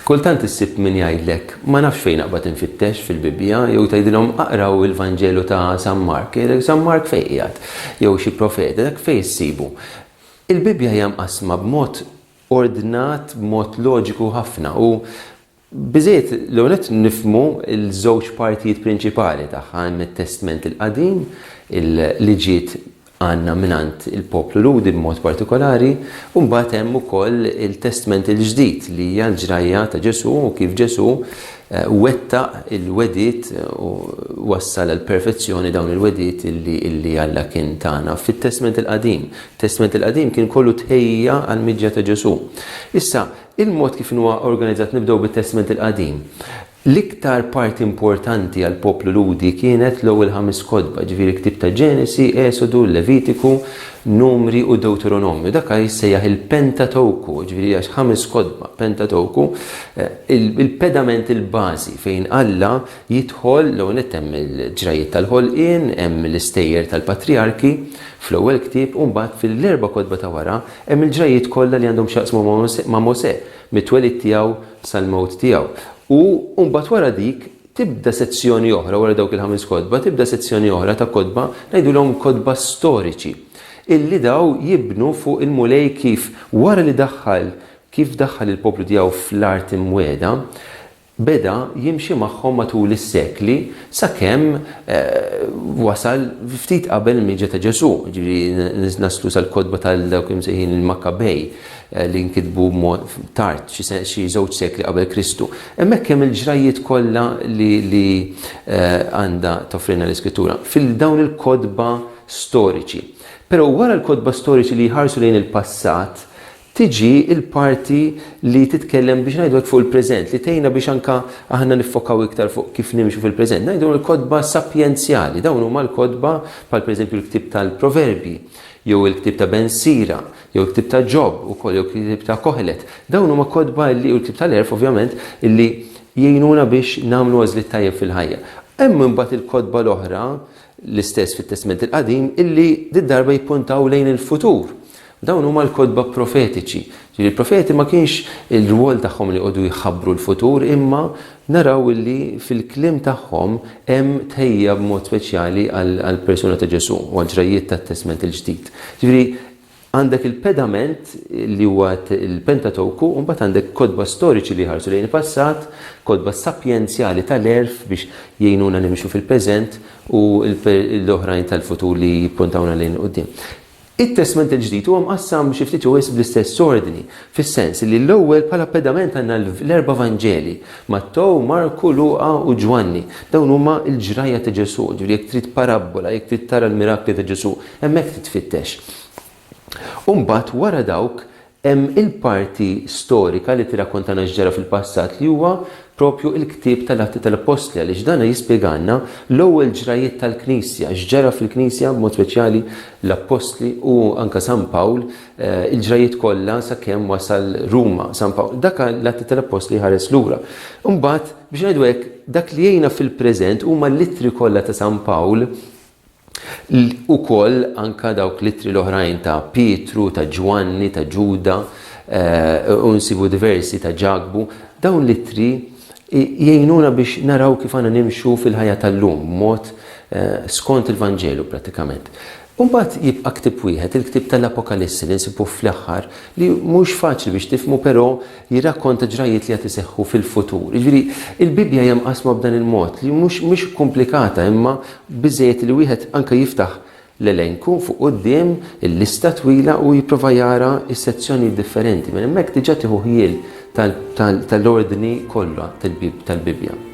Kultant issib min jgħidlek, ma nafx fejn aqbad infittex fil-Bibbja, jew tgħidilhom aqraw il-Vanġelu ta' San Mark, San Mark fejn qiegħed, jew xi profeta, dak fejn issibu. Il-Bibbja hija mqassma b'mod ordnat b'mod loġiku ħafna u biżżejjed l-ewwel nett nifhmu l-żewġ partijiet prinċipali tagħha, hemm it-Testment il-Qadim li ġiet għandna mingħand il-poplu Lhudi b'mod partikolari, u mbagħad hemm ukoll il-Testment il-Ġdid li hija l-ġrajja ta' Ġesù u kif Ġesù wettaq il-wegħdiet u wassal għall-perfezzjoni dawn il-wegħdiet li Alla kien tana fit-Testment il-Qadim. Testment il-Qadim kien kollu tħejjija għall-miġja ta' Ġesù. Issa, il-mod kif inhu organizzat nibdew bit-Testment il-Qadim. L-iktar parti importanti għall-poplu Lhudi kienet l-ewwel ħames kotba, ġifieri ktieb ta' Ġenesi, Esodu, Levitiku, Numri u Dewteronomju. Dak għaliex jissejjaħ il-Pentatewku, ġifieri hija ħames kotba, Pentatewku, il-pedament il-bażi fejn Alla Jidħol l-ewwel nett hemm il-ġrajjiet tal-ħolqien, hemm l-istejjer tal-patrijarki fl-ewwel ktieb u mbagħad fil-erba' kotba ta' wara hemm il-ġrajjiet kollha li għandhom x'jaqsmu ma' Mosè, mit-twelid tiegħu sal-mewt tiegħu. U mbagħad wara dik tibda sezzjoni oħra, wara dawk il-ħames kotba, tibda sezzjoni oħra ta' kotba, ngħidulhom kotba storiċi, illi daw jibnu fuq il-Mulej kif wara li daħħal, kif daħħal il-poplu tiegħu fl-art imwiegħda, Beda jimxi magħhom matul is-sekli sakemm wasal ftit qabel il-miġja ta' Ġesù, jiġifieri naslu sal-kotba ta' dawk imsejħin il-Makkabej li nkitbu tard, xi żewġ sekli qabel Kristu. Hemmhekk hemm il-ġrajjiet kollha li għandha toffrilna l-Iskrittura, fil-dawn il-kotba storiċi. Però wara l-kotba storiċi li jħarsu lejn il-passat, tiġi l-parti li titkellem biex ngħidu hekk fuq il-preżent, li tgħinna biex anke aħna niffokaw iktar fuq kif nimxu fil-preżent. Ngħidu l-kotba sapjenzjali, dawn huma l-kotba bħal pereżempju l-ktieb tal-Proverbji, jew il-ktieb ta' Ben Sira, jew il-ktieb ta' Ġob ukoll, jew il-ktieb ta' Kohelet. Dawn huma kotba li, u l-ktieb tal-Għerf ovvjament, li jgħinuna biex nagħmlu għażliet tajjeb fil-ħajja. Hemm imbagħad il-kotba l-oħra L-istess fit-Testment il-Qadim illi did-darba jippuntaw lejn il-futur. Dawn huma l-kotba profetiċi. Ġifieri l-profeti ma kienx ir-rwol tagħhom li jqogħdu jħabbru l-futur imma naraw illi fil-kliem tagħhom hemm tħejjija b'mod speċjali għall-persuna ta' Ġesù u għall-ġrajjiet tat-Testment il-Ġdid. Ġifieri Għandek il-pedament li huwa l-Pentatowku u mbagħad għandek kotba storiċi li jħarsu lejn il-passat, kotba sapjenzjali tal-għerf biex jgħinuna nimxu fil-preżent u l-oħrajn tal-futur li jippuntawna lejn il-quddiem. It-Testment il-Ġdid huwa mqassam xi ftit jew wisq bl-istess ordni, fis-sens li l-ewwel bħala pedament għandna l-erba' Vanġeli, Mattew, Marku, Luqa u Ġwanni. Dawn huma l-ġrajja ta' Ġesù, ġifieri jekk trid parabbola, jekk trid tara l-mirakli ta' Ġesù, Hemmhekk titfittex. U mbagħad wara dawk hemm il-parti storika li tirrakkontana x'ġara fil-passat li huwa propju l-ktieb tal-Atti tal-Appostli għaliex dan jispjegalna l-ewwel ġrajjiet tal-Knisja, x'ġara fil-Knisja b'mod speċjali l-Appostli u anke San Pawl, il-ġrajjiet kollha sakemm wasal Ruma San Pawl. Dak l-Atti tal-Appostli jħares lura. Imbagħad, biex ngħidu hekk, dak li jgħinna fil-preżent huma l-ittri kollha ta' San Pawl, Ukoll anke dawk l-ittri l-oħrajn ta' Pietru, ta' Ġwanni, ta' Ġuda, u nsibu diversi ta' Ġakbu, dawn l-ittri jgħinuna biex naraw kif għandna nimxu fil-ħajja tal-lum b'mod skont il-Vanġelu prattikament. U mbagħad jibqa' ktieb wieħed, il-ktieb tal-Apokalissi li nsibuh fl-aħħar, li mhux faċli biex tifhmu però jirrakkonta ġrajjiet li għad iseħħu fil-futur. Jiġifieri, il-Bibbja hija mqassma b'dan il-mod, li mhux mhix komplikata imma biżżejjed li wieħed anke jiftaħ l-elenku fuq quddiem, il-lista twila u jipprova jara s-sezzjonijiet differenti. Minn hemmhekk diġà tieħu ħjiel tal-ordni kollha tal-Bibbja.